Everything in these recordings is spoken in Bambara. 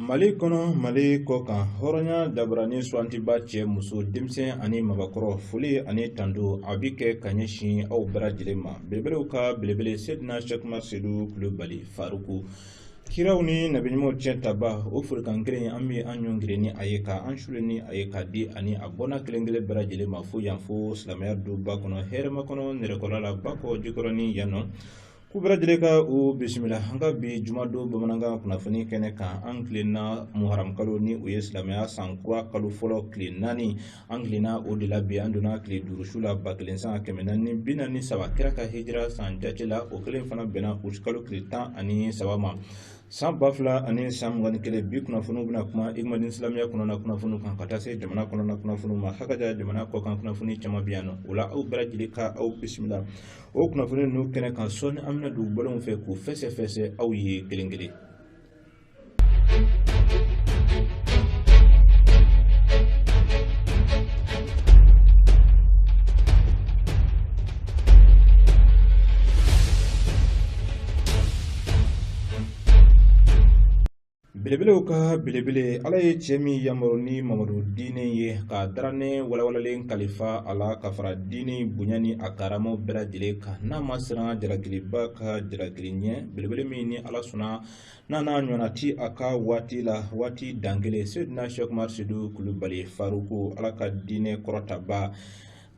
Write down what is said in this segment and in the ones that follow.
mali kɔnɔ mali kɔ kan hɔrɔnya dabara ni suwantiba cɛ muso denmisɛn ani mabakɔrɔ foli ani tando a bi kɛ ka ɲɛsin aw bɛɛ lajɛlen ma belebelew ka belebele sedina sɛkuma sedu kulubali faruku kiraw ni nabi ɲumanw ciyɛntaba o folikan kelen an bɛ an ɲɔngiri ni a ye ka an suuli ni a ye k'a di ani a bɔnna kelen kelen bɛɛ lajɛlen ma fo yan fo silamɛya duba kɔnɔ hɛrɛmakɔnɔ nɛrɛkɔrɔ la bakɔ jikɔrɔni yan nɔ k'u bɛɛ lajɛlen ka u bisimila an ka bi jumadon bamanankan kunnafoni kɛnɛ kan an tilenna muharamukalo ni o ye silamɛya san kura kalo fɔlɔ tile naani an tilenna o de la bi an donna tile duuru su la ba kelen san kɛmɛ naani ni bi naani ni saba kira ka hijira san jate la o kelen fana bɛnna utikalo tile tan ani saba ma san ba fila ani san mugan ni kelen bi kunnafoniw bɛna kuma igmadin silamɛya kɔnɔna kunnafoniw kan ka taa se jamana kɔnɔna kunnafoniw ma hakaja jamana kɔkan kunnafoni caman bɛ yan nɔ o la aw bɛɛ lajɛlen ka aw bisimila o kunnafoni ninnu kɛnɛ kan sɔɔni an bɛna don bolonw fɛ k'u fɛsɛfɛsɛ aw ye kelen kelen belebelew ka belebele ala ye cɛ min yamaru ni mamadu diinɛ ye ka daranɛ walawalalen kalifa a la ka fara diinɛ bonya ni a karamaw bɛɛ lajɛlen kan n'a ma siran jalakiliba ka jalakili ɲɛ belebele min ni ala sɔnna n'a n'a ɲɔgɔnna ti a ka waati la waati dankelen seydina sɛkumari sedu kulubali faruku ala ka diinɛ kɔrɔtaba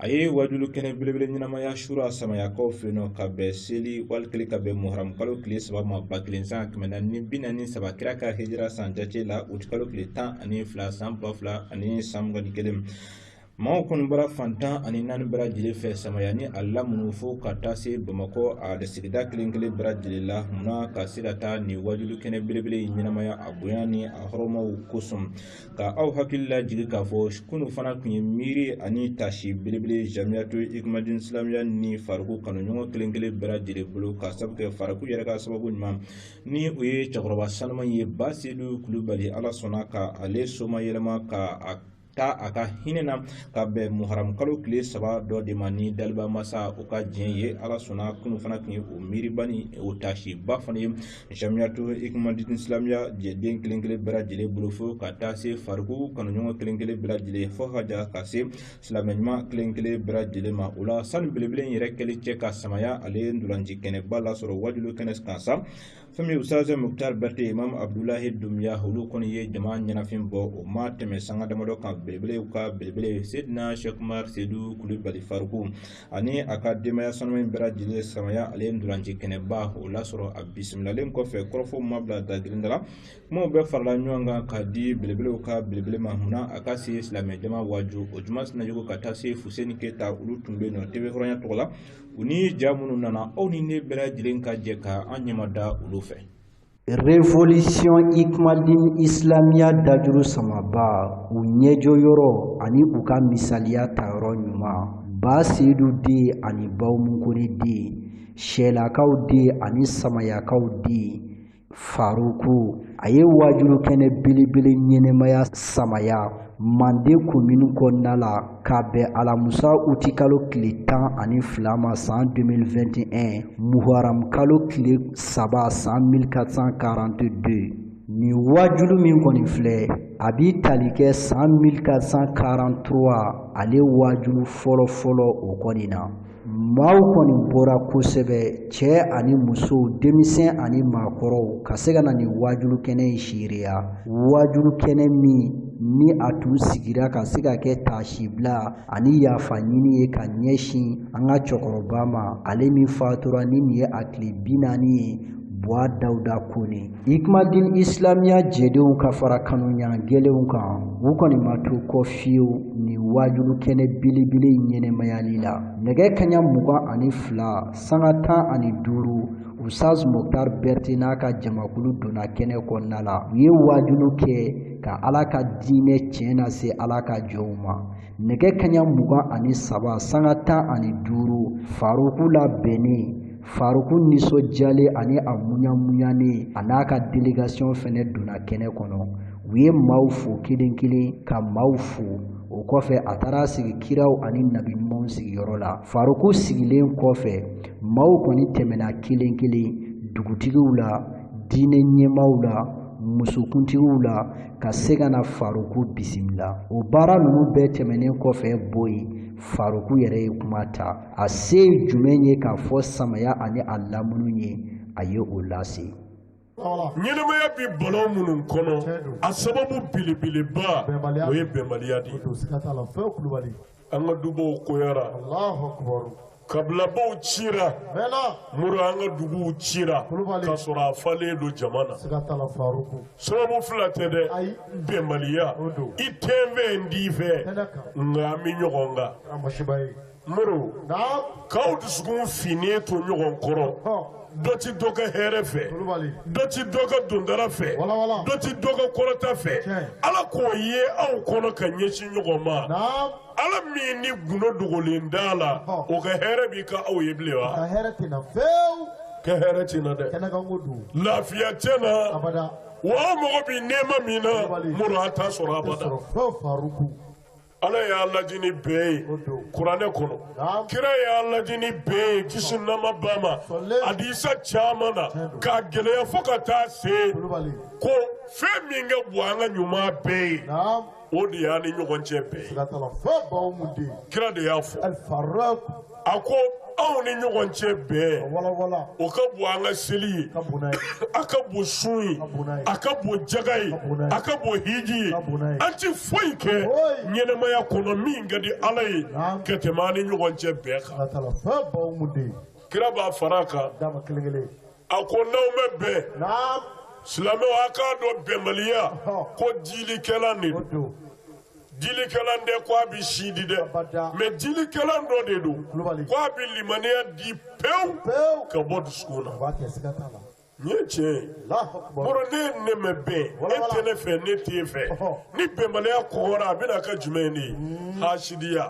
a ye wajulu kɛnɛ belebele ɲɛnamaya sura samayakaw fɛ nɔ ka bɛn seli walikelen ka bɛn muharamu kalo tile saba ma ba kelen san kɛmɛ naani ni bi naani saba kira ka hijira san jate la utikalo tile tan ani fila san ba fila ani san mugan ni kelen Maaw kɔni bɔra fan tan ani naani bɛɛ lajɛlen fɛ samaya ni a lamini fo ka taa se bamakɔ a sigida kelenkelen bɛɛ lajɛlen la munna ka se ka taa nin wajulu kɛnɛ belebele in ɲɛnamaya a bonya ni a hɔrɔmaw kosɔn ka aw hakili la jigin k'a fɔ kunun fana tun ye miiri ani taasi belebele jamiyatu ikumadin silamɛya ni faruku kanuɲɔgɔn kelenkelen bɛɛ lajɛlen bolo ka sabu kɛ faruku yɛrɛ ka sababu ɲuman ni o ye cɛkɔrɔba sanuman ye ba sedu kulubali ala sɔnna ka ale somayɛlɛma ka a ta a ka hinɛ na ka bɛn muharamukalo tile saba dɔ de ma ni daliba masa o ka diɲɛ ye ala sɔnna kunun fana tun ye o miiriba ni o taasiba fana ye jamiyatu ikumadini silamɛya jɛden kelen kelen bɛɛ lajɛlen bolo fo ka taa se faruku kanuɲɔgɔn kelen kelen bɛɛ lajɛlen fo ka ja ka se silamɛ ɲuman kelen kelen bɛɛ lajɛlen ma o la sani belebele in yɛrɛ kɛli cɛ ka samaya ale ntolaci kɛnɛba lasɔrɔ wajulu kɛnɛ kan sa fɛn min usaz muktar bɛrite imam abdulahi dunbiya olu kɔni ye jama ɲɛnafin bɔ o ma tɛmɛ sanga damadɔ kan belebelew ka belebele sedina shekumar sedu kulubali faruku ani a ka denbaya sanuman in bɛɛ lajɛlen samaya ale ndolanci kɛnɛba o lasɔrɔ a bisimilalen kɔfɛ kɔrɔfɔw ma bila dagirin da la kumaw bɛɛ farala ɲɔgɔn kan ka di belebelew ka belebele ma o na a ka se silamɛ jama waaju o juma sinayɔgɔ ka taa se fuseni keyita olu tun bɛ yen nɔ TV hɔrɔnya tɔgɔ la u ni ja minnu nana aw ni ne bɛɛ lajɛlen ka jɛ ka an ɲɛma da olu fɛ Révolution Ikmadin Islamia dajuru samaba u ɲɛjɔ yɔrɔ ani u ka misaliya ta yɔrɔ ɲuman ba seyidu den ani bawumu kone den sɛlakaw den ani samayakaw den faruku a ye waajulu kɛnɛ belebele ɲɛnɛmaya samaya manden komini kɔnɔna la ka bɛn alamusa uti kalo tile tan ani fila ma san 2021 muharam kalo tile saba san 1442 nin waajulu min kɔni filɛ a b'i tali kɛ san 1443 ale waajulu fɔlɔfɔlɔ o kɔni na maaw kɔni bɔra kosɛbɛ cɛ ani muso denmisɛn ani maakɔrɔw ka se ka na nin waajulu kɛnɛ in seereya waajulu kɛnɛ min ni a tun sigira ka se ka kɛ taasibila ani yafa ɲini ye ka ɲɛsin an ka cɛkɔrɔba ma ale min fatura ni nin ye a tile bi naani ye buwa dawuda kone Ikmadin Islamia jɛdenw ka fara kanuya gɛlɛnw kan u kɔni ma to kɔ fiyewu nin wajulu kɛnɛ belebele ɲɛnɛmayali la nɛgɛ kaɲa mugan ani fila sanga tan ani duuru usaz muktar berete n'a ka jamakulu donna kɛnɛ kɔnɔna la u ye wajulu kɛ ka ala ka diinɛ tiɲɛ nase ala ka jɔnw ma nɛgɛ kaɲa mugan ani saba sanga tan ani duuru faruku labɛnnen Faruku nisɔndiyalen ani a munyamunyanen a n'a ka délégation fɛnɛ donna kɛnɛ kɔnɔ u ye maaw fo kelen kelen ka maaw fo o kɔfɛ a taara sigi kiraw ani nabi ɲumanw sigiyɔrɔ la faruku sigilen kɔfɛ maaw kɔni tɛmɛna kelen kelen dugutigiw la diinɛ ɲɛmaaw la musokuntigiw la ka se ka na faruku bisimila o baara ninnu bɛɛ tɛmɛnen kɔfɛ boyi faruku yɛrɛ ye kuma ta a se jumɛn ye k'a fɔ samaya ani a lamunu ye a ye o lase ɲɛnɛmaya bɛ balawu minnu kɔnɔ a sababu belebeleba o ye bɛnbaliya de ye an ka dubaw koyara kabilabaw cira mori an ka duguw cira ka sɔrɔ a falen don jama na sababu fila tɛ dɛ bɛnbaliya i tɛ n fɛ n t'i fɛ nka an bɛ ɲɔgɔn kan muru k'aw dusukun finnen to ɲɔgɔn kɔrɔ dɔ tɛ dɔ ka hɛrɛ fɛ dɔ tɛ dɔ ka dondara fɛ dɔ tɛ dɔ ka kɔrɔta fɛ ala k'o ye aw kɔnɔ ka ɲɛsin ɲɔgɔn ma ala min ni gundo dogolen t'a la o ka hɛrɛ bi k'aw ye bilen wa ka hɛrɛ ti na dɛ lafiya tɛ na wa aw mago bɛ nɛɛma min na muru a t'a sɔrɔ a Ala y'an laadi ni bɛn ye kuranɛ kɔnɔ kira y'an laadi ni bɛn ye kisi nɛɛma b'a ma hadisa caman na k'a gɛlɛya fo ka taa se ko fɛn min ka bon an ka ɲuman bɛɛ ye o de y'an ni ɲɔgɔn cɛ bɛn ye kira de y'a fɔ A ko anw ni ɲɔgɔn cɛ bɛn o ka bon an ka seli ye a ka bon sun ye a ka bon jaga ye a ka bon hiji ye an tɛ foyi kɛ ɲɛnamaya kɔnɔ min ka di ala ye ka tɛmɛ an ni ɲɔgɔn cɛ bɛn kan kira b'a fara a kan kelen kelen a ko n'aw ma bɛn silamɛw a k'a dɔn bɛnbaliya ko dilikɛlan de don dilikɛlan tɛ ko a bɛ si di dɛ mais dilikɛlan dɔ de don ko a bɛ limaniya di pewu ka bɔ dusukun na nin ye tiɲɛ ye muru n'e ni ne ma bɛn e tɛ ne fɛ ne t'e fɛ ni bɛnbaliya kɔgɔra a bɛna kɛ jumɛn de ye hasidiya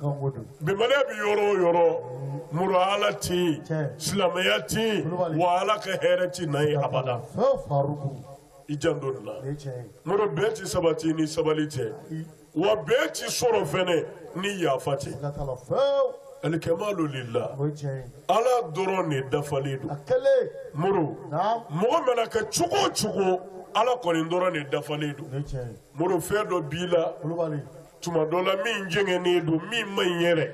Bɛnbaliya bɛ yɔrɔ o yɔrɔ muru ala tɛ yen silamɛya tɛ yen wa ala ka hɛrɛ tɛ na yen abada i janto nin na muru bɛn tɛ sabati ni sabali tɛ wa bɛn tɛ sɔrɔ fɛnɛ ni yafa tɛ alikamalu lillah ala dɔrɔn de dafalen don muru mɔgɔ mana kɛ cogo o cogo ala kɔni dɔrɔn de dafalen don muru fɛn dɔ b'i la tuma dɔ la min jɛngɛnnen don min man ɲi yɛrɛ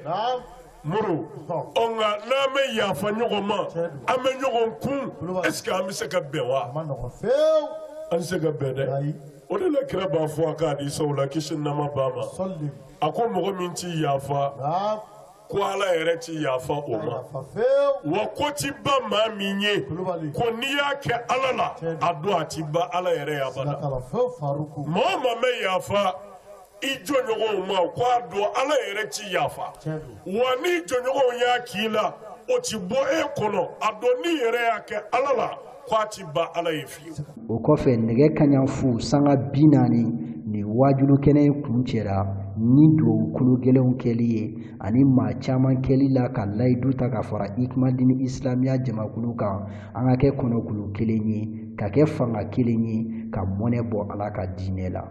muru ɔ nka n'an ma yafa ɲɔgɔn ma an ma ɲɔgɔn kun est ce que an bɛ se ka bɛn wa an tɛ se ka bɛn dɛ o de la kira b'a fɔ a ka hadisaw la kisi nɛɛma b'a ma a ko mɔgɔ min tɛ yafa ko ala yɛrɛ tɛ yafa o ma wa ko tɛ ban maa min ye ko n'i y'a kɛ ala la a dɔn a tɛ ban ala yɛrɛ ye abada maa o maa bɛ yafa i jɔnɲɔgɔnw ma ko a dɔn ala yɛrɛ tɛ yafa wa n'i jɔnɲɔgɔnw y'a k'i la o tɛ bɔ e kɔnɔ a dɔn n'i yɛrɛ y'a kɛ ala la k'a ti ban ala ye fiyewu o kɔfɛ nɛgɛ kanɲɛ fu sanga bi naani ni waajuli kɛnɛ in kuncɛra ni duwawu kulu gɛlɛnw kɛli ye ani maa caman kalila ka layidu ta ka fara ikumadini isilamiya jamakulu kan an ka kɛ kɔnɔkulu kelen ye ka kɛ fanga kelen ye ka mɔnɛ bɔ ala ka diinɛ la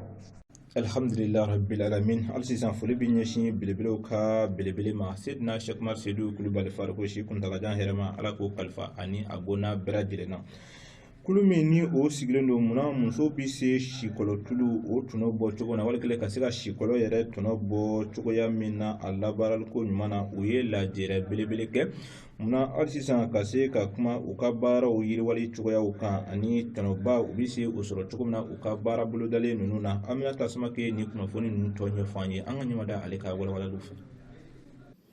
Alihamdulila rabil alamin hali sisan foli bɛ ɲɛsin belebelew ka belebele ma seyidina sɛku umaru sedu kulubali faruku si kuntaalajan hɛrɛma ala k'o kalifa ani a bɔnna bɛɛ lajɛlen na kulu min ni o sigilen don munna muso bɛ se sikɔlɔ tulu o tɔnɔ bɔ cogo na wali ka se ka sikɔlɔ yɛrɛ tɔnɔ bɔ cogoya min na a labaaraliko ɲuman na u ye lajɛrɛ belebele kɛ munna hali sisan ka se ka kuma u ka baaraw yiriwali cogoyaw kan ani tɔnɔba u bɛ se o sɔrɔ cogo min na u ka baara bolodalen ninnu na aminata samake nin kunnafoni ninnu tɔ ɲɛfɔ an ye an ka ɲɛmada ale ka walawalaliw fɛ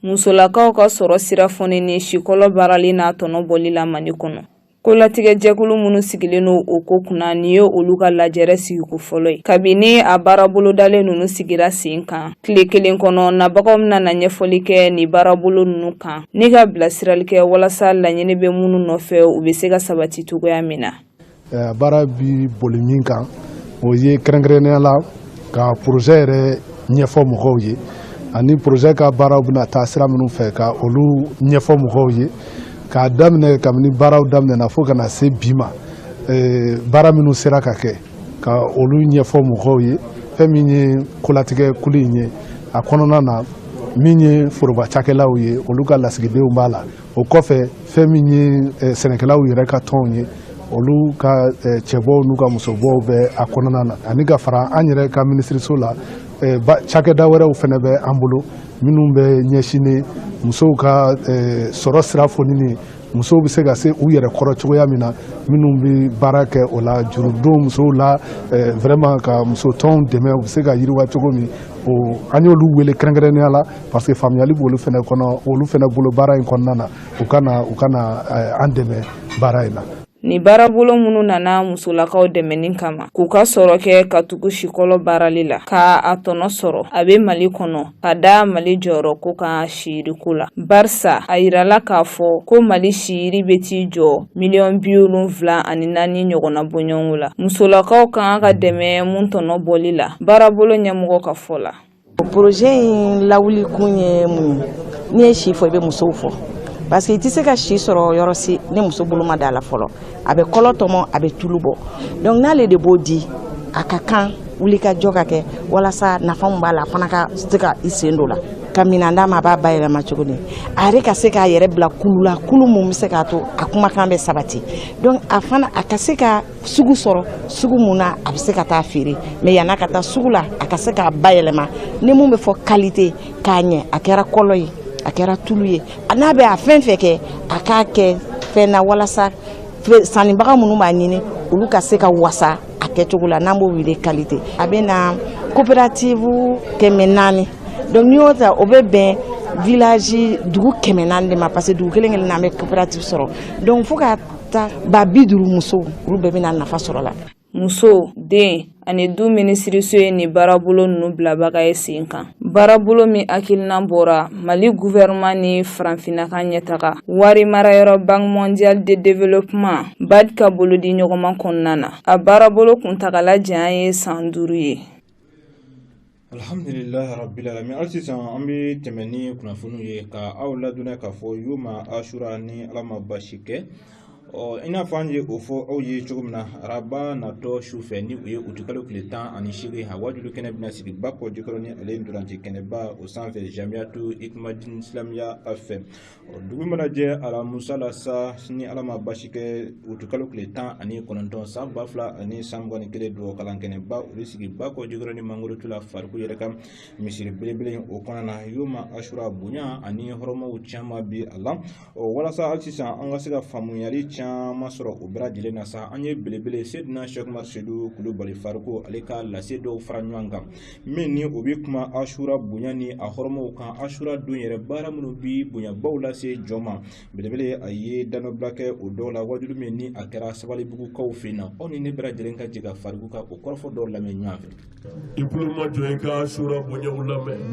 musolakaw ka sɔrɔ sira fonini sikɔlɔ baarali n'a tɔnɔ bɔli la mali kɔnɔ Kolatigɛjɛkulu minnu sigilen don o ko kunna nin ye olu ka lajɛrɛ sigiko fɔlɔ ye kabini a baarabolodalen ninnu sigira sen kan tile kelen kɔnɔ nabagaw bɛna na ɲɛfɔli kɛ ni baarabolo ninnu kan ni ka bilasirali kɛ walasa laɲini bɛ minnu nɔfɛ u bɛ se ka sabati cogoya min na baara bi boli min kan o ye kɛrɛnkɛrɛnnenya la ka poroze yɛrɛ ɲɛfɔ mɔgɔw ye ani poroze ka baaraw bɛna taa sira minnu fɛ ka olu ɲɛfɔ mɔgɔw ye k'a daminɛ kabini baaraw daminɛna fo ka na se bi ma eh, baara minnu sera ka kɛ ka olu ɲɛfɔ mɔgɔw ye fɛn min ye kolatigɛ kulu in ye a kɔnɔna na min ye foroba cakɛlaw ye olu ka lasigidenw b'a la o kɔfɛ fɛn min ye eh, sɛnɛkɛlaw yɛrɛ ka tɔnw ye olu ka eh, cɛbɔw n'u ka musobɔw bɛ a kɔnɔna na ani ka fara an yɛrɛ ka minisiriso la Eh, cakɛda wɛrɛw fana bɛ an bolo minnu bɛ ɲɛsinnen musow ka eh, sɔrɔ sira fonini musow bɛ se ka se u yɛrɛ kɔrɔ cogoya min na minnu bɛ baara kɛ o la juru don musow la eh, vraiment ka musotɔnw dɛmɛ u bɛ se ka yiriwa cogo min o an y'olu wele kɛrɛnkɛrɛnnenya la parce que faamuyali b'olu fana kɔnɔ olu fana bolo baara in kɔnɔna na u ka na u ka na an dɛmɛ baara in na Nin baarabolo minnu nana musolakaw dɛmɛni kama k'u ka sɔrɔ kɛ ka tugu sikɔlɔ baarali la ka a tɔnɔ sɔrɔ a bɛ mali kɔnɔ ka da mali jɔyɔrɔko kan siyiriko la barisa a yirala k'a fɔ ko mali siyiri bɛ t'i jɔ miliyɔn bi wolonfila ani naani ɲɔgɔnna bɔɲɔgɔnko la musolakaw ka kan ka dɛmɛ mun tɔnɔ bɔli la baarabolo ɲɛmɔgɔ ka fɔ la Poroze in lawuli kun ye mun ye n'i ye si fɔ i bɛ musow fɔ parce que i tɛ se ka si sɔrɔ yɔrɔ si ni muso bolo ma da la fɔlɔ a bɛ kɔlɔ tɔmɔ a bɛ tulu bɔ donc n'ale de b'o di a ka kan wulikajɔ ka kɛ walasa nafa min b'a la a fana ka se ka i sen don a la ka minɛn d'a ma a b'a bayɛlɛma cogo di a yɛrɛ ka se k'a yɛrɛ bila kulu la kulu mun bɛ se k'a to a kumakan bɛ sabati donc a fana a ka se ka sugu sɔrɔ sugu mun na a bɛ se ka taa feere mais yan'a ka taa sugu la a ka se k'a bayɛlɛma ni mun bɛ fɔ qualité k'a ɲɛ a kɛra kɔlɔ ye a kɛra tulu ye a n'a bɛ a fɛn fɛn kɛ a k'a kɛ fɛn na walasa sannibaga minnu b'a ɲini olu ka se ka wasa a kɛcogo la n'an b'o wele qualité a bɛ na coopérative kɛmɛ naani donc n'i y'o ta o bɛ bɛn village dugu kɛmɛ naani de ma parce que dugu kelen kelen na an bɛ coopérative sɔrɔ donc fo ka Taa ba bi duuru muso olu bɛɛ bɛna nafa sɔrɔ la muso den ani du minisiriso ye nin baarabolo ninnu bilabaga ye sen kan baarabolo min hakilinan bɔra mali gouvernement ni farafinna ka ɲɛtaga wari marayɔrɔ banque mondiale de développement bad ka bolodiɲɔgɔnma kɔnɔna na a baarabolo kuntagala janya ye san duuru ye Alhamdulilahi rabili alamin hali sisan an bɛ tɛmɛ ni kunnafoniw ye ka aw ladɔnniya k'a fɔ yoma asura ni ala ma basi kɛ ɔ i n'a fɔ an ye o fɔ aw ye cogo min na araba natɔ su fɛ ni o ye utikalo tile tan ani seegin a wajulu kɛnɛ bɛna sigi bakɔjikɔrɔni ale ntolaci kɛnɛba o sanfɛ jamiyatu ikimadin silamiya fɛ dugu mana jɛ alamusa la sa ni ala ma basi kɛ utikalo tile tan ani kɔnɔntɔn san ba fila ani san mugan ni kelen dugawu kalan kɛnɛba o bɛ sigi bakɔjikɔrɔni mangorotu la fariku yɛrɛ ka misiri belebele in o kɔnɔna na yoma asura bonya ani hɔrɔmaw caman bi a la ɔ walasa hali sisan an ka se ka faamuyali caman sɔrɔ o bɛɛ lajɛlen na sa an ye belebele sedina sɛki umar sedu kulubali fariku ale ka lase dɔw fara ɲɔgɔn kan min ni o bɛ kuma asura bonya ni a hɔrɔmaw kan asura don yɛrɛ baara minnu bɛ bonyabaw lase jɔn ma belebele a ye danɔbila kɛ o dɔw la wajulu min ni a kɛra sabalibugukaw fɛ na aw ni ne bɛɛ lajɛlen ka jɛ ka fariku ka o kɔrɔfɔ dɔw lamɛn ɲɔgɔn fɛ i tulomajɔ i ka asura bonyaw lamɛn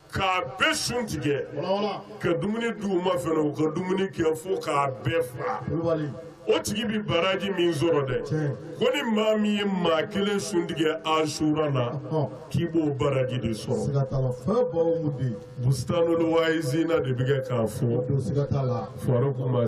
K'a bɛɛ sun tigɛ ka dumuni d'u ma fɛnɛ u ka dumuni kɛ fo k'a bɛɛ fa o tigi bɛ baraji min sɔrɔ dɛ ko ni maa min ye maa kelen sun tigɛ asura la k'i b'o baraji de sɔrɔ bustanul wayizina de bɛ kɛ k'a fɔ fariku ma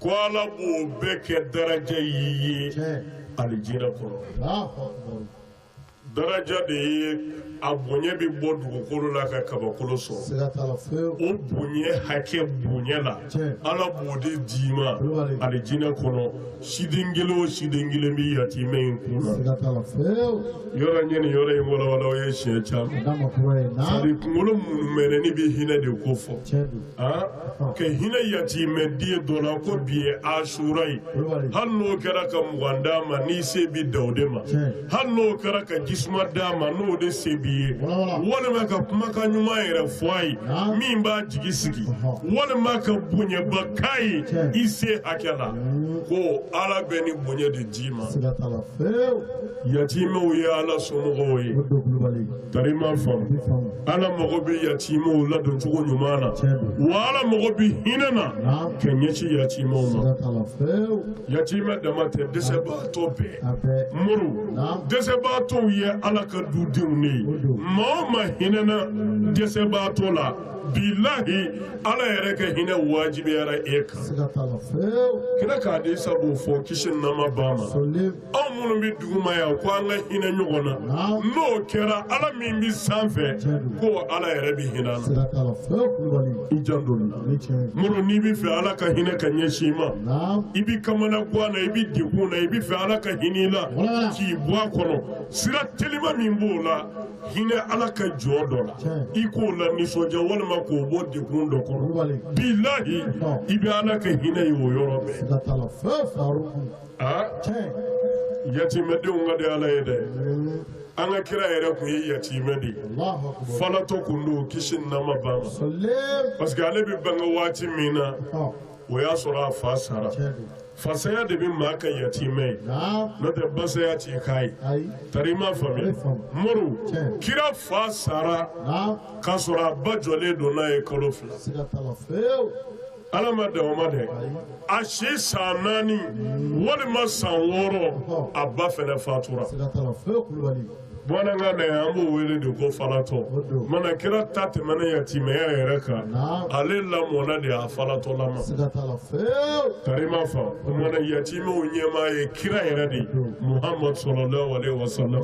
ko ala b'o bɛɛ kɛ daraja y'i ye alijinɛ kɔnɔ daraja de ye a bonya bɛ bɔ dugukolo la ka kabakolo sɔrɔ o bonya hakɛ bonya la ala b'o de d'i ma alijinɛ kɔnɔ siden kelen o siden kelen bɛ yatimɛ in kunna yɔrɔ ɲɛ nin yɔrɔ in walawala ye siɲɛ caman kunkolo munumɛnɛni bɛ hinɛ de kofɔ ka hinɛ yatimɛden dɔ la ko bi ye asura ye hali n'o kɛra ka mugan d'a ma n'i se bi dan o de ma hali n'o kɛra ka jisuma d'a ma n'o de se b'i ye walima ka kumakan ɲuman yɛrɛ fɔ a ye min b'a jigi sigi walima ka bonyaba k'a ye i se hakɛ la ko ala bɛ ni bonya de d'i ma yatimɛw ye ala somɔgɔw ye Tari m'a faamu ala mago bɛ yatimɛw ladon cogo ɲuman na wa ala mago bɛ hinɛ na ka ɲɛsin yatimɛ ma yatimɛ dama tɛ dɛsɛbaatɔ bɛɛ muru dɛsɛbaatɔw ye ala ka dudenw de ye maa o maa hinɛna dɛsɛbaatɔ la bilahi ala yɛrɛ ka hinɛ wajibiyara e kan kira ka hadisa b'o fɔ kisi nɛɛma b'a ma anw minnu bɛ duguma yan ko an ka hinɛ ɲɔgɔn na n'o kɛra ala min bɛ sanfɛ ko ala yɛrɛ bɛ hinɛ na i janto muru n'i bɛ fɛ ala ka hinɛ ka ɲɛsin i ma i bɛ kamanagan na i bɛ degun na i bɛ fɛ ala ka hinɛ i la k'i bɔ a kɔnɔ sira telima min b'o la hinɛ ala ka jɔn dɔ la i k'o lanisɔndiya walima k'o bɔ degun dɔ kɔnɔ bilahi i bɛ ala ka hinɛ ye o yɔrɔ bɛɛ aa yatimɛdenw ka di ala ye dɛ an ka kira yɛrɛ tun ye yatimɛ de ye falatɔ kun don kisi nɛɛma b'a ma parce que ale bɛ bange waati min na o y'a sɔrɔ a fa sara fa saya de bɛ maa kɛ yatimɛ ye n'o tɛ ba saya t'i k'a ye tari i m'a faamuya muru kira fa sara k'a sɔrɔ a ba jɔlen don n'a ye kalo fila ala ma dan o ma dɛ a si san naani walima san wɔɔrɔ a ba fɛnɛ fatura bamanankan na yan an b'o wele de ko falatɔ mana kira ta tɛmɛna yatimɛya yɛrɛ kan ale lamɔna de a falatɔlama tari m'a fa mana yatimɛw ɲɛmaa ye kira yɛrɛ de muhamadu salalahu alayihi wasalam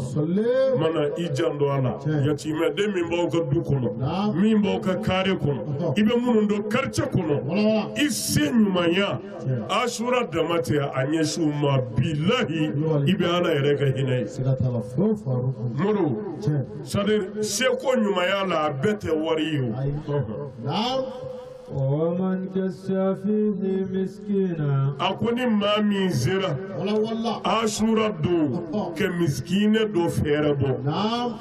mana i janto a la yatimɛden min b'aw ka du kɔnɔ min b'aw ka kare kɔnɔ i bɛ minnu don quartier kɔnɔ i se ɲumanya asura dama tɛ a ɲɛsin u ma bilahi i bɛ ala yɛrɛ ka hinɛ ye muru c'est-à-dire seko ɲumanya la a bɛɛ tɛ wari ye a ko ni maa min sera asura don ka misikinɛ dɔ fɛɛrɛ bɔ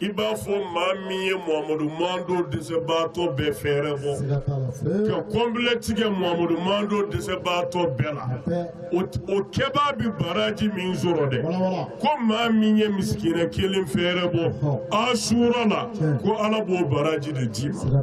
i b'a fɔ maa min ye muhamadu mantɔn dɛsɛbaatɔ bɛɛ fɛɛrɛ bɔ ka kɔnpilɛ tigɛ muhamadu mantɔn dɛsɛbaatɔ bɛɛ la o kɛbaa bi baraji min sɔrɔ dɛ ko maa min ye misikinɛ kelen fɛɛrɛ bɔ asura la ko ala b'o baraji de d'i ma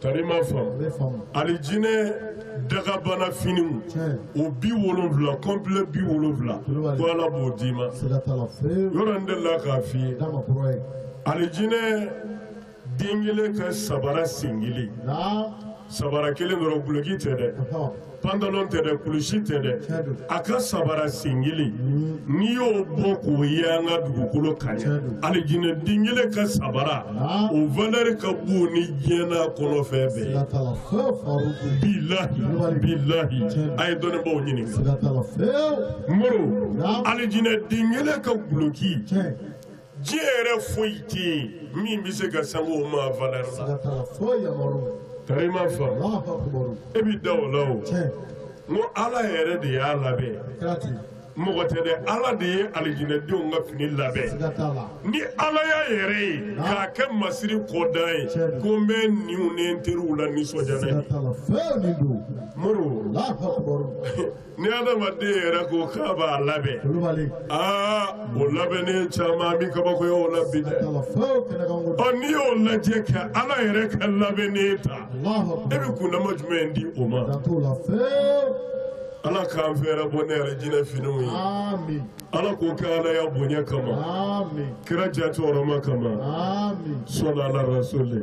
Tari i m'a faamu alijinɛ dagabana finiw o bi wolonwula complet bi wolonwula ko ala b'o d'i ma yɔrɔ n delila k'a f'i ye alijinɛ den kelen ka sabara sen kelen sabara kelen dɔrɔn guloki tɛ dɛ pantalon tɛ dɛ kulusi tɛ dɛ a ka sabara sen kelen n'i y'o bɔ k'o ye an ka dugukolo kan alijinɛ den kelen ka sabara o valɛri ka bon ni diɲɛ n'a kɔnɔfɛn bɛɛ bilahi bilahi a ye dɔnnibaaw ɲininka moro alijinɛ den kelen ka guloki Diɲɛ yɛrɛ foyi tɛ yen min bɛ se ka sanga o ma valeur la, siga t'a la, foyi Amadu, tari i m'a faamu, Alahu akibaru, e bɛ da o la o, tiɲɛ, n ko Ala yɛrɛ de y'a labɛn, a kɛra ten, mɔgɔ tɛ dɛ, Ala de ye alijinɛdenw ka fini labɛn, siga t'a la, ni Ala y'a yɛrɛ ye k'a kɛ masiri kɔdan ye Tiɲɛ don. ko n bɛ n ɲinw ni n teriw lanisɔndiya n'a ye, siga t'a la, fɛn min don, Modibo Alahu akibaru. ni adamaden yɛrɛ ko k'a b'a labɛn aa o labɛnnen caman bɛ kabakoya o la bi dɛ ɔ n'i y'o lajɛ ka ala yɛrɛ ka labɛnnen ta e bɛ kundama jumɛn di o ma ala k'an fɛɛrɛbɔ ni arijinɛ finiw ye ala k'o kɛ alaya bonya kama kira jati hɔrɔma kama sɔli ala rasuli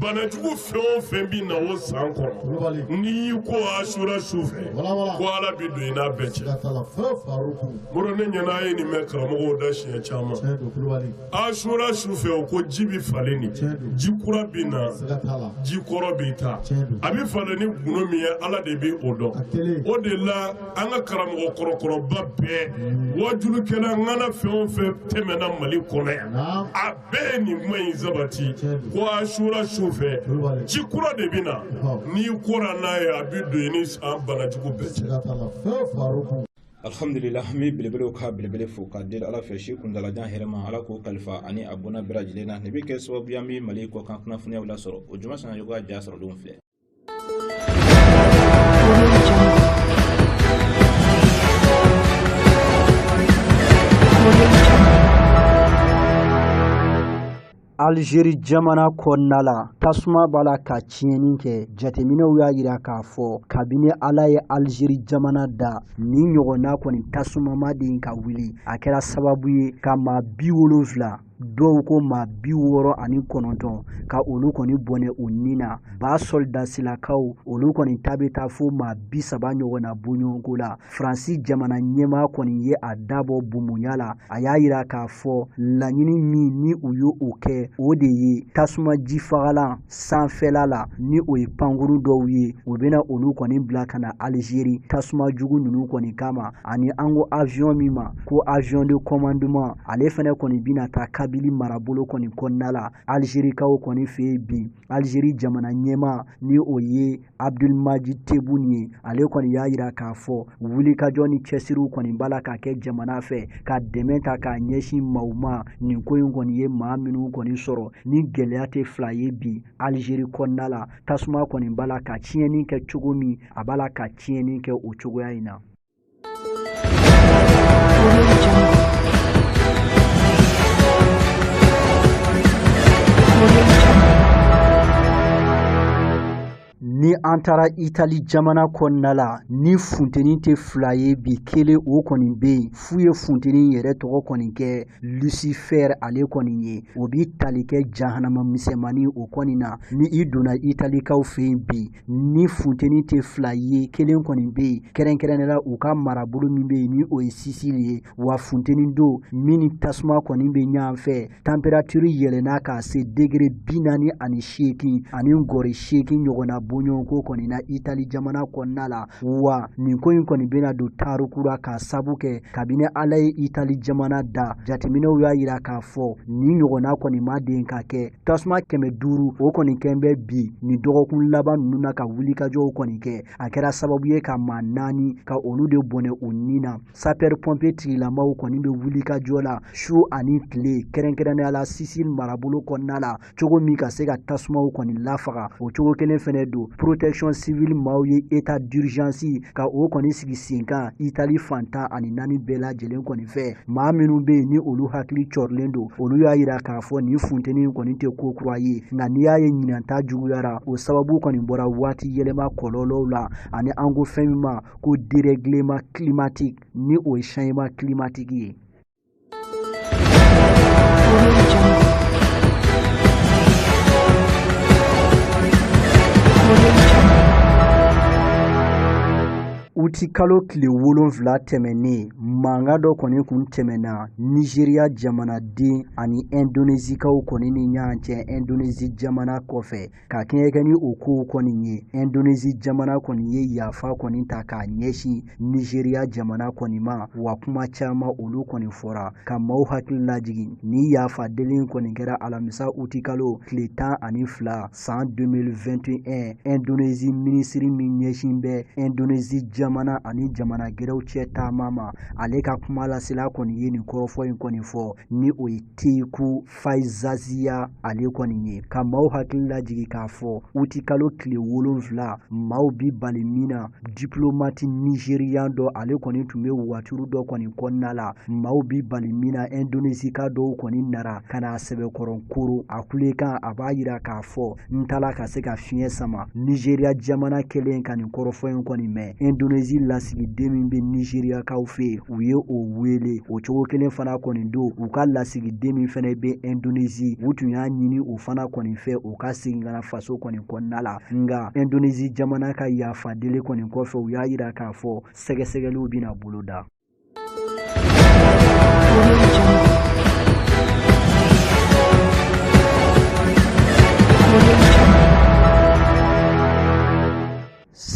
banajugu fɛn o fɛn bɛ na o san kɔnɔ n'i y'i ko asura su fɛ ko ala bɛ don i n'a bɛɛ cɛ moro ne ɲɛ na a ye nin mɛn karamɔgɔw da siɲɛ caman asura su fɛ o ko ji bɛ falen nin ji kura bɛ na ji kɔrɔ bɛ taa a bɛ falen ni gundo min ye ala de bɛ o dɔn o de la an ka karamɔgɔ kɔrɔkɔrɔba bɛɛ wajulikɛla ŋana fɛn o fɛn tɛmɛna mali kɔnɔ yan bɛɛ ye nin kuma in sabati ko asura su fɛ ji kura de bɛ na n'i kora n'a ye a bɛ don i ni san banajugu bɛɛ cɛ. alhamdulillah n bɛ belebelew ka belebele fo k'a deli ala fɛ si kuntalajan hɛrɛma ala k'o kalifa ani a bɔnna bɛɛ lajɛlen na nin bɛ kɛ sababu y'an bɛ mali kɔkan kunnafoniyaw lasɔrɔ ojuma sanayogo ka ja sɔrɔlenw filɛ Alizeri jamana kɔnɔna la tasuma b'a la ka tiɲɛni kɛ jateminɛw y'a jira k'a fɔ kabini ala ye alizeri jamana da nin ɲɔgɔnna kɔni tasuma ma deli ka wuli a kɛra sababu ye ka maa bi wolonfila dɔw ko maa bi wɔɔrɔ ani kɔnɔntɔn ka olu kɔni bɔnɛ u ni na b'a sɔldasilakaw olu kɔni ta bɛ taa fo maa bi saba ɲɔgɔn na bɔɲɔgɔnko la faransi jamana ɲɛmaa kɔni ye a da bɔ bumuya la a y'a yira k'a fɔ laɲini min ni u y'o kɛ o de ye tasuma jifagalan sanfɛla la ni o ye pankurun dɔw ye o bɛna olu kɔni bila ka na alizeri tasuma jugu ninnu kɔni kama ani an ko avion min ma ko avion de commandement ale fɛnɛ kɔni bɛna taa kabili marabolo kɔni kɔnɔna la alizerikaw kɔni fɛ yen bi alizeri jamana ɲɛmaa ni o ye abudulmaji tebun ye ale kɔni y'a yira k'a fɔ wulikajɔ ni cɛsiriw kɔni b'a la ka kɛ jamana fɛ ka dɛmɛ ta k'a ɲɛsin maaw ma nin ko in kɔni ye maa minnu kɔni sɔrɔ ni gɛlɛya tɛ fila ye bi alizeri kɔnɔna la tasuma kɔni b'a la ka tiɲɛni kɛ cogo min a b'a la ka tiɲɛni kɛ o cogoya in na ni an taara itali jamana kɔnɔna la ni funteni tɛ fila ye bi kelen o kɔni bɛ yen f'u ye funteni yɛrɛ tɔgɔ kɔni kɛ lucifer ale kɔni ye o bi tali kɛ jahanama misɛnmannin o kɔni na ni i donna italikaw fɛ yen bi ni funteni tɛ fila ye kelen kɔni bɛ yen kɛrɛnkɛrɛnnenya la u ka marabolo min bɛ yen ni o ye sisili ye wa funteni don min ni tasuma kɔni bɛ ɲɔgɔn fɛ tanperatiri yɛlɛnna ka se degere bi naani ani seegin ani gɔri seegin ɲɔgɔnna bɔɲɔgɔnko kɔni na itali jamana kɔnɔna la wa nin ko in kɔni bɛna don tariku ra k'a sabu kɛ kabini ala ye itali jamana da jateminɛw y'a yira k'a fɔ nin ɲɔgɔnna kɔni ma deli ka kɛ tasuma kɛmɛ duuru o kɔni kɛn bɛ bi nin dɔgɔkun laban ninnu na ka wulikajɔw kɔni kɛ a kɛra sababu ye ka maa naani ka olu de bɔnɛ u ni na sapɛri pɔnpiye tigilamaw kɔni bɛ wulikajɔ la su ani tile kɛrɛnkɛrɛnnenya la sisili marabolo kɔnɔna la cogo min ka se ka tasumaw kɔni lafaga o cogo kelen fɛnɛ don protection civile maaw ye etat d'urgence ka o kɔni sigi sen kan itali fan tan ani naani bɛɛ lajɛlen kɔni fɛ maa minnu bɛ yen ni olu hakili cɔrilen don olu y'a yira k'a fɔ nin funteni kɔni tɛ ko kura ye nka n'i y'a ye ɲinan ta juguyara o sababu kɔni bɔra waati yɛlɛma kɔlɔlɔw la ani an ko fɛn min ma ko dereglement climatique ni o ye changement climatique ye uti kalo tile wolonfila tɛmɛnnen mankan dɔ kɔni kun tɛmɛna nizeriya jamanaden ani ɛndonezikaw kɔni ni ɲɔgɔn cɛ ɛndonezi jamana kɔfɛ ka kɛɲɛ kɛ ni o kow kɔni ye ɛndonezi jamana kɔni ye yafa kɔni ta k'a ɲɛsin nizeriya jamana kɔni ma wa kuma caman olu kɔni fɔra ka maaw hakili lajigin ni yafa deli kɔni kɛra alamisa uti kalo tile tan ani fila san 2021 Indonesie minisiri min ɲɛsin bɛ Indonesie jamana ani jamana gɛrɛw cɛ taama ma ale ka kuma lasela kɔni ye nin kɔrɔfɔ in kɔni fɔ ni o ye Teuku Faizasyah ale kɔni ye ka maaw hakili lajigin k'a fɔ uti kalo tile wolonfila maaw bi bali min na diplomati nizeriyan dɔ ale kɔni tun bɛ waturu dɔ kɔni kɔnɔna la maaw bi bali min na indonesika dɔw kɔni nara ka na a sɛbɛkɔrɔ koron a kulekan a b'a yira k'a fɔ n t'a la ka se ka fiɲɛ sama nizeriya jamana kɛlen ka nin kɔrɔfɔ in kɔni mɛn indonesi lasigiden min bɛ nizeriyakaw fɛ u ye o wele o cogo kelen fana kɔni don u ka lasigiden min fana bɛ indonesi u tun y'a ɲini o fana kɔni fɛ o ka segin ka na faso kɔni kɔnɔna la nka indonezi jamana ka yafa deli kɔni kɔfɛ u y'a yira k'a fɔ sɛgɛsɛgɛliw bɛna boloda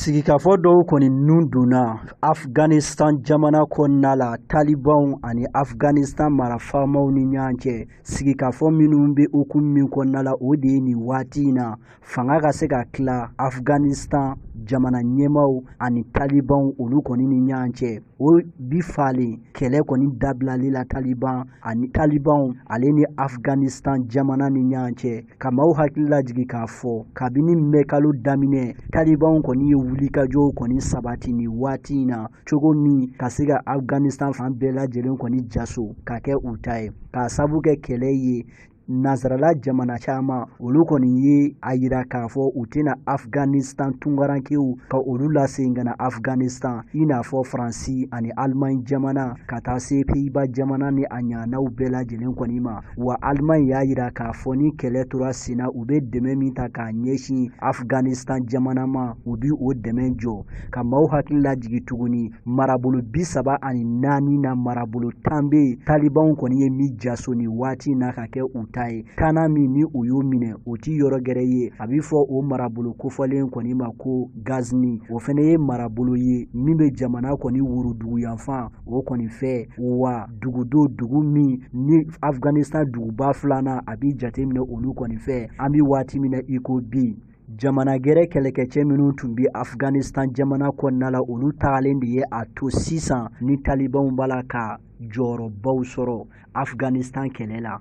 sigikafɔ dɔw kɔni nun donna afghanistan jamana kɔnɔna la talibanw ani afghanistan marafaamaw ni ɲɔgɔn cɛ sigikafɔ minnu bɛ hukumu min kɔnɔna la o de ye nin waati in na fanga ka se ka tila afghanistan jamana ɲɛmaw ani talibanw olu kɔni ni ɲɔgɔn cɛ o bi falen kɛlɛ kɔni dabilali la taliban ani talibanw ale ni afghanistan jamana ni ɲɔgɔn cɛ ka maaw hakili lajigi k'a fɔ kabini mɛ kalo daminɛ talibanw kɔni ye wulikajɔw kɔni sabati nin waati in na cogo min ka se ka afghanistan fan bɛɛ lajɛlen kɔni jaso ka kɛ u ta ye k'a sabu kɛ kɛlɛ ye nansarala jamana caman olu kɔni ye a yira k'a fɔ u tɛna afghanistan tunkarankew ka olu lasegin ka na afghanistan i n'a fɔ faransi ani alimaɲi jamana ka taa se peyiba jamana ni a ɲaanaw bɛɛ lajɛlen kɔni ma wa alimaɲi y'a yira k'a fɔ ni kɛlɛ tora senna u bɛ dɛmɛ min ta k'a ɲɛsin afghanistan jamana ma u bi o dɛmɛ jɔ ka maaw hakili lajigi tuguni marabolo bi saba ani naani na marabolo tan bɛ yen talibanw kɔni ye min jaso nin waati na ka kɛ u ta ye tannan min ni u y'o minɛ o ti yɔrɔ gɛrɛ ye a bɛ fɔ o marabolo kofɔlen kɔni ma ko gazni o fana ye marabolo ye min bɛ jamana kɔni worodugu yanfan o kɔni fɛ wa dugu don dugu min ni afghanistan duguba filanan a bɛ jateminɛ olu kɔni fɛ an bɛ waati min na i ko bi jamana gɛrɛ kɛlɛkɛcɛ minnu tun bɛ afghanistan jamana kɔnɔna la olu tagalen de ye a to sisan ni talibanw b'a la ka jɔyɔrɔbaw sɔrɔ afghanistan kɛlɛ la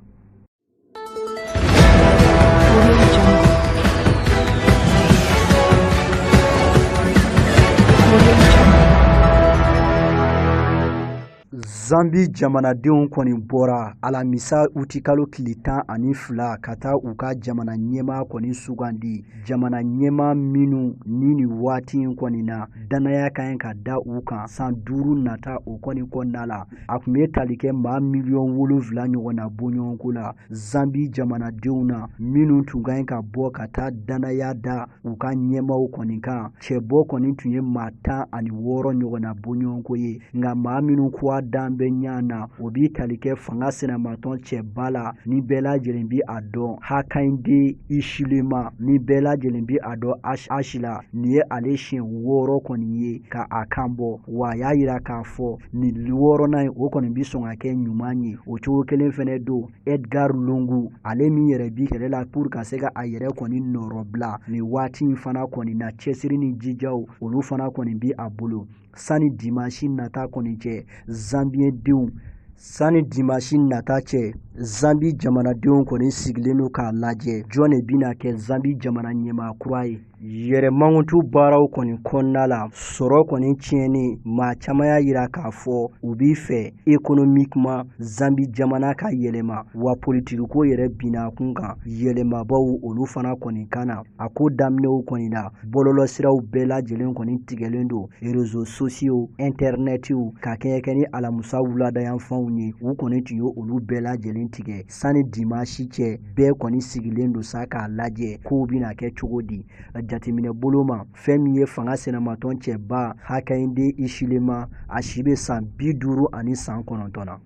zambi jamanadenw kɔni bɔra alamisa utikalo tile tan ani fila ka taa u ka jamana ɲɛmaa kɔni sugandi jamana ɲɛmaa minnu ni nin waati in kɔni na dannaya ka ɲi ka da u kan san duuru nata o kɔni kɔnɔna la a tun bɛ tali kɛ maa miliyɔn wolonfila ɲɔgɔn na bɔɲɔgɔnko la zambi jamanadenw na minnu tun ka ɲi ka bɔ ka taa dannaya da u ka ɲɛmaaw kɔni kan cɛbɔ kɔni tun ye maa tan ani wɔɔrɔ ɲɔgɔnna bɔɲɔgɔnko ye nka maa minnu kuwa dan bɛ ɲa na o bi tali kɛ fanga sinamatɔn cɛba la ni bɛɛ lajɛlen bi a dɔn Hakainde Hichilema ni bɛɛ lajɛlen bi a dɔn ashi la nin ye ale siɲɛ wɔɔrɔ kɔni ye ka a kan bɔ wa a y'a yira k'a fɔ nin wɔɔrɔnan ye o kɔni bi sɔn ka kɛ ɲuman ye o cogo kelen fana don Edgar Lungu ale min yɛrɛ bi kɛlɛ la pour ka se ka a yɛrɛ kɔni nɔrɔbila nin waati in fana kɔni na cɛsiri ni jijaw olu fana kɔni bi a bolo sani dimansi nata kɔni cɛ zanbiyedenw sani dimansi nata cɛ zanbi jamanadenw kɔni sigilen don k'a lajɛ jɔn de bɛna kɛ zanbi jamana ɲɛmaa kura ye yɛrɛ mankutu baaraw kɔni kɔnɔna la sɔrɔ kɔni tiɲɛni maa caman y'a yira k'a fɔ u b'i fɛ économiquement zambi jamana ka yɛlɛma wa politikiko yɛrɛ binna kun kan yɛlɛmabaw olu fana kɔni kan na a ko daminɛw kɔni na bɔlɔlɔsiraw bɛɛ lajɛlen kɔni tigɛlen don réseaux sociaux intɛrɛnɛtiw ka kɛɲɛ kɛ ni alamusa wuladayanfanw ye u kɔni tun ye olu bɛɛ lajɛlen tigɛ sani dimansi cɛ bɛɛ kɔni sigilen don sa k'a lajɛ kow bɛna kɛ cogo di jateminɛ bolo ma fɛn min ye fanga sinamatɔn cɛba Hakainde Hichilema a si bɛ san bi duuru ani san kɔnɔntɔn na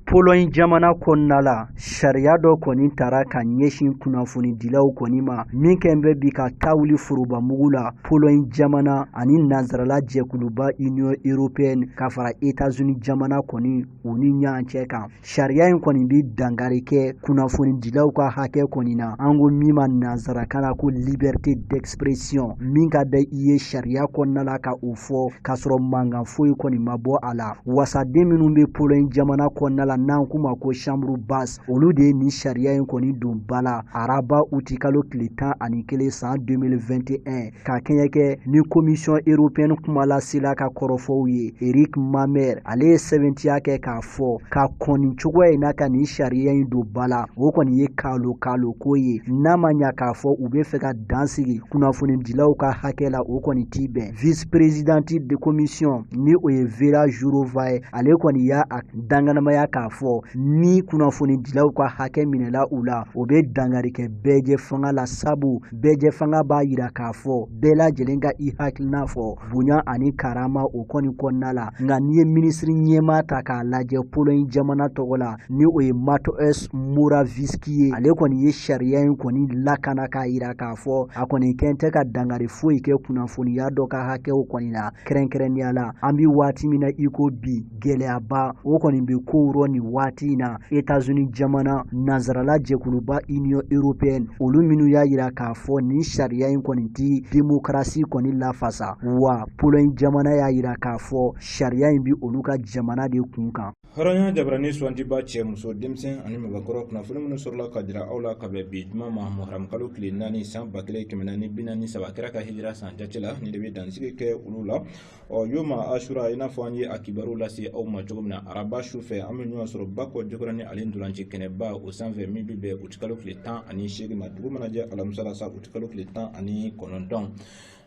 Pologne jamana kɔnɔna la sariya dɔ kɔni tara ka ɲɛsin kunnafonidilaw kɔni ma min kɛn bɛ bi ka ta wuli forobamugu la Pologne jamana ani nansarala jɛkuluba Union européenne ka fara États-Unis jamana kɔni u ni ɲɔgɔn cɛ kan sariya in kɔni bɛ dankari kɛ kunnafonidilaw ka hakɛ kɔni na an ko min ma nansarakan na ko liberté d'ex pression min ka da i ye sariya kɔnɔna la ka o fɔ k'a sɔrɔ mankan foyi kɔni ma bɔ a la wasaden minnu bɛ poloɲi jamana kɔnɔna la n'an k'u ma ko chambre basse olu de ye nin sariya in kɔni don ba la araba uti kalo tile tan ani kelen san 2021 ka kɛɲɛ kɛ ni komisiyɔn europɛni kumalasela ka kɔrɔfɔw ye eric mamer ale ye sɛbɛntiya kɛ k'a fɔ ka kɔni cogoya in na ka nin sariya in don ba la o kɔni ye kalo kalo ko ye n'a ma ɲa k'a fɔ u bɛ fɛ ka dan sigi kunnafonidilaw ka hakɛ la o kɔni ti bɛn vice presidente de commission ni o ye vera jurova ye ale kɔni y'a a danganamaya k'a fɔ ni kunnafonidilaw ka hakɛ minɛla u la o bɛ dangari kɛ bɛɛjɛfanga la sabu bɛɛjɛfanga b'a yira k'a fɔ bɛɛ lajɛlen ka i hakilina fɔ bonya ani karama o kɔni kɔnɔna la nka n'i ye minisiri ɲɛmaa ta k'a lajɛ poloɲi jamana tɔgɔ la ni o ye mateusz morawiecki ye ale kɔni ye sariya in kɔni lakana k'a yira k'a fɔ a kɔni kɛn tɛ ka dangari foyi kɛ kunnafoniya dɔ ka hakɛw kɔni na kɛrɛnkɛrɛnnenya la an bi waati min na i ko bi gɛlɛyaba o kɔni bɛ kow rɔ nin waati in na etazuni jamana nansarala jɛkuluba union européenne olu minnu y'a yira k'a fɔ nin sariya in kɔni ti demokarasi kɔni lafasa wa poloɲi jamana y'a yira k'a fɔ sariya in bi olu ka jamana de kun kan hɔrɔnya jabarani suwantiba cɛ muso denmisɛn ani mɔgɔkɔrɔ kunnafoni minnu sɔrɔla ka jira aw la ka bɛn bi juma ma muharamukalo tile naani san ba kelen kɛmɛ naani bi naani saba kira ka hijira san jate la nin de bɛ dansigi kɛ olu la ɔ yoma asura i n'a fɔ an ye a kibaruw lase aw ma cogo min na araba su fɛ an bɛ ɲɔgɔn sɔrɔ bakɔ jikɔrɔni ale ntolanci kɛnɛba o sanfɛ min bɛ bɛn utikalo tile tan ani seegin ma dugu mana jɛ alamisa la sa utikalo tile tan ani kɔnɔntɔn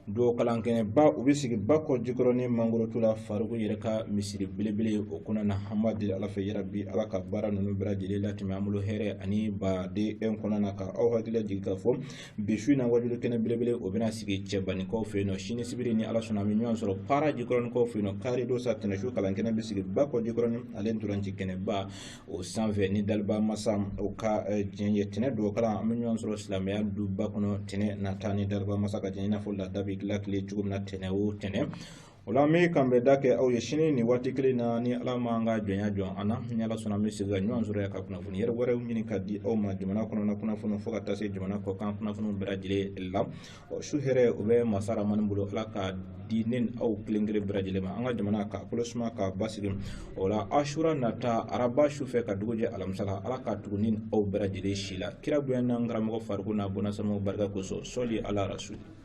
don kalankɛnɛba o bɛ sigi bakɔ jikɔrɔni mangorotu la fariku yɛrɛ ka misiri belebele o kɔnɔna an b'a deli ala fɛ yarabi ala ka baara ninnu bɛɛ lajɛlen latɛmɛ an bolo hɛrɛ ani baden kɔnɔna na ka aw hakili jigin k'a fɔ bi su in na wajulikɛnɛ belebele o bɛna sigi cɛbaninkaw fɛ yen nɔ sini sibiri ni ala sɔnna an bɛ ɲɔgɔn sɔrɔ para jikɔrɔninkaw fɛ yen nɔ kari don sa tɛnɛsu kalan kɛnɛ bɛ sigi bakɔ jikɔrɔni ale ntolanci kɛnɛba o sanfɛ ni daliba masa o ka diɲɛ ye tɛnɛ don kalan an bɛ ɲɔgɔn sɔrɔ silamɛya duba kɔnɔ tɛnɛ nata ni daliba masa ka diɲɛ i n'a fɔ laada bɛ dilan tile cogo min na tɛnɛ o tɛnɛ o la an bɛ k'an bɛn da kɛ aw ye sini nin waati kelen na ni ala m'an ka jɔnya jɔ an na ni ala sɔnna an bɛ segin ka ɲɔgɔn sɔrɔ yan ka kunnafoni yɛrɛ wɛrɛw ɲini ka di aw ma jamana kɔnɔna kunnafoni fo ka taa se jamana kɔkan kunnafoniw bɛɛ lajɛlen la ɔ su hɛrɛ o bɛ masa rahamani bolo ala k'a di ne ni aw kelen kelen bɛɛ lajɛlen ma an ka jamana ka kolo suma ka basigi o la asura nata araba su fɛ ka dugu jɛ alamisa la ala ka tugu ni aw bɛɛ lajɛlen si la kira bonya n'an karamɔgɔ fariku n'a bɔnasamaw barika kosɔn sɔli ala rasuli